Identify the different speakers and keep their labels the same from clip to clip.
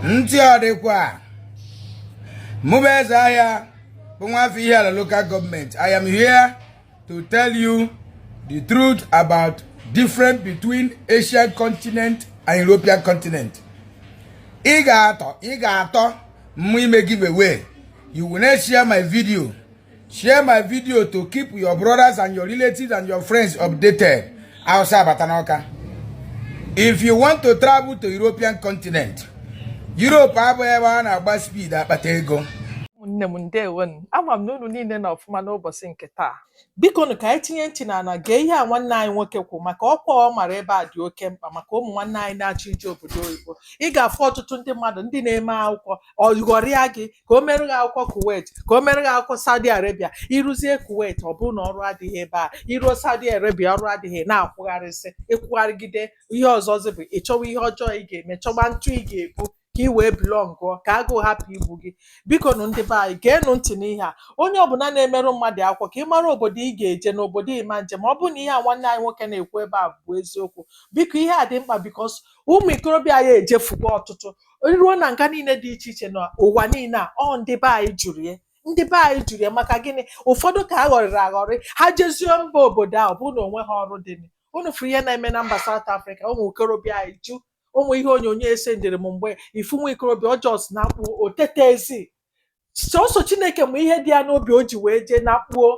Speaker 1: ntị ọ dịkwa mụ bụ eze ahịa bụ nwafọ ihiala local government i am here to tell you the truth about difference between asian continent and european continent ị ga-atọ mụ ime giveaway you will not share my video share my video to keep your brothers and your relatives and your friends updated awụsa abata n'ọka if you want to travel to european continent europe abụghị ebe a na-agba speed akpata ego ụmụnne
Speaker 2: m ndewonu ama m na unu niile nọ ọfụma n'ụbọchị nke taa biko nụ ka anyị tinye ntị n'ala gee ihe a nwanne anyị nwoke kwu maka ọkwa ọ mara ebe a dị oke mkpa maka ụmụ nwanne anyị na-achọ ije obodo oyibo ị ga-afụ ọtụtụ ndị mmadụ ndị na-eme akwụkwọ ọ ghọrịa gị ka o mere gị akwụkwọ kuwait ka o mere gị akwụkwọ saudi arabia i ruzie kuwait ọ bụrụ na ọrụ adịghị ebe a i ruo saudi arabia ọrụ adịghị na-akwụgharịsị ị kwụgharịgide ihe ọzọzi bụ ịchọwa ihe ọjọọ ị ga-eme chọwa ntụ ị ga-ebu ka ị wee bilọngụọ ka agụụ hapụ igbu gị biko nụ ndị be anyị geenụ ntị n'ihe a onye ọbụla na-emerụ mmadụ akwụkwọ ka ị mara obodo ị ga-eje na obodo ị ma nje ọ bụrụ na ihe a nwanne anyị nwoke na-ekwu ebe a bụ eziokwu biko ihe a dị mkpa because ụmụ ikorobịa anyị ejefugo ọtụtụ ruo na nga niile dị iche iche na ụwa niile a ọ ndị be anyị juru ya ndị be anyị juru ya maka gịnị ụfọdụ ka a ghọrịrị aghọrị ha jezie mba obodo a ọ bụrụ na o nweghị ọrụ dị nị. unu fụrụ ihe na-eme na mba South Africa ụmụ ikorobịa anyị ju o nwe ihe onyonyo e sendịrị m mgbe ị fụ nwa ikorobịa ọ just na-akpụ otete ezi sọsọ chineke ma ihe dị ya n'obi o ji wee jee na kpuo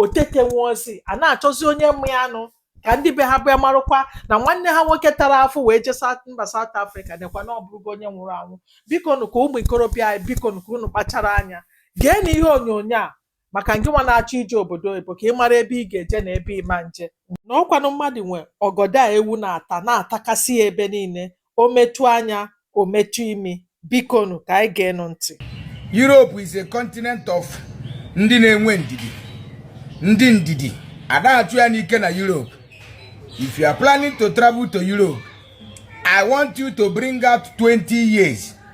Speaker 2: otete nwa o sị a na-achọzi onye ma ya nụ ka ndị be ha bịa marụkwa na nwanne ha nwoke tara afụfụ wee jee mba South Africa nekwa na ọ bụrụgo onye nwụrụ anwụ biko nụ ka ụmụ ikorobịa anyị biko nụ ka unu kpachara anya geenụ ihe onyonyo a maka ngị nwa na-achọ ije obodo oyibo ka ị mara ebe ị ga-eje na ebe ị ma nje na ọkwanụ mmadụ nwe ọgọdọ a ewu na-ata na-atakasị ya ebe niile o metụ anya o metụ imi bikonu ka anyị geenụ ntị Europe
Speaker 1: is a continent of ndị na-enwe ndidi ndị ndidi adịghị achụ ya n'ike na Europe if you are planning to travel to Europe I want you to bring out 20 years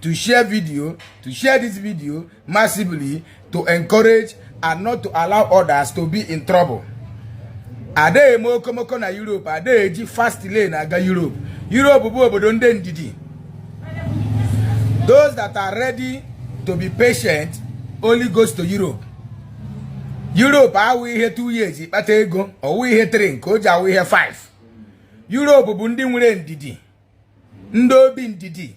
Speaker 1: to share video, to share this video massively to encourage and not to allow others to be in trouble. Adịghị eme okomoko na Europe, adịghị eji fast lane aga Europe. Europe bụ obodo ndị ndidi. Those that are ready to be patient only goes to Europe. Europe awụghị ihe 2 years ị kpata ego, ọ wụghị ihe 3 nke o ji awụ ihe 5. Europe bụ ndị nwere ndidi, ndị obi ndidi.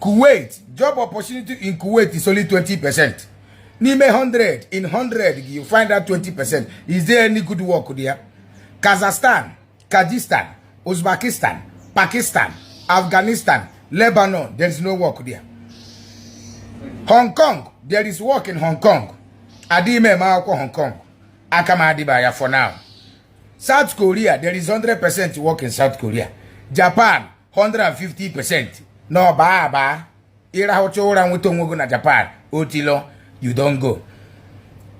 Speaker 1: Kuwait job opportunity in Kuwait is only 20 percent n'ime 100 in 100 you find out 20 percent is there any good work there Kazakhstan Kajistan Uzbekistan Pakistan Afghanistan Lebanon there is no work there Hong Kong there is work in Hong Kong adịghị m eme akwụkwọ Hong Kong aka m adịba ya for now South Korea there is 100% work in South Korea Japan 150 percent na ọba aba ịrahụcha ụra nweta onwe gị na japan otilo you don go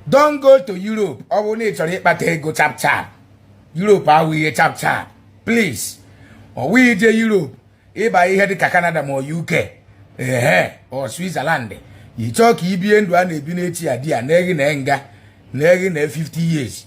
Speaker 1: don't go to europe ọ bụrụ na ị chọrọ ịkpata ego chapchap europe awụghị ihe chapchap please ọ wụghị ije europe ịba ihe dịka canada ma uk ehe or switzerland ị chọọ ka i bie ndụ a na-ebi n'echi ya di ya na eghi na nga na eghi na 50 years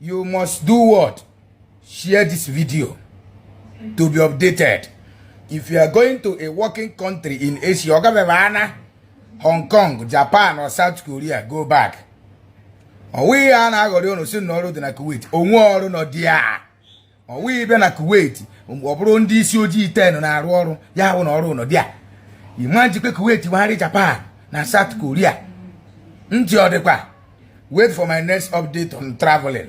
Speaker 1: you must do what share this video to be updated if you are going to a working country in asia ọ gabebe ana hong kong japan or south korea go back ọ wụghị a na-aghọrị unu sị na ọrụ dị na kuwait o nweghị ọrụ nọ there ọ wụghị bịa na kuwait ọ bụrụ ndị isi ojii ten na-arụ ọrụ ya hụ na ọrụ nọ there imagine kwa kuwait wegharị japan na south korea ntị ọ dịkwa wait for my next update on traveling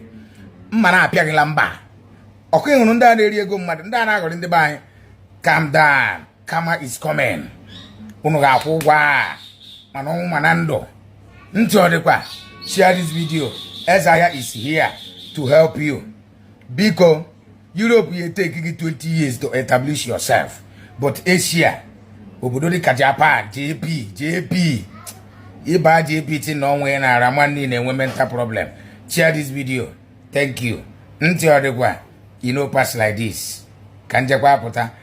Speaker 1: mma na-apịaghịla mba ọkụ ịhụrụ ndị a na-eri ego mmadụ ndị a na-aghọrị ndị be anyị calm down karma is coming unu ga-akwụ ụgwọ a ma n'ọnwụ ma na ndụ ntị ọ dịkwa share this video eze ahịa is here to help you biko Europe ya take gị 20 years to establish yourself but Asia obodo dịka Japan JP JP ịba JP ti na ọnwa ya na-ara nwanne na-enwe mental problem share this video thank you ntị ọ dịkwa e no pass like this ka m jekwa pụta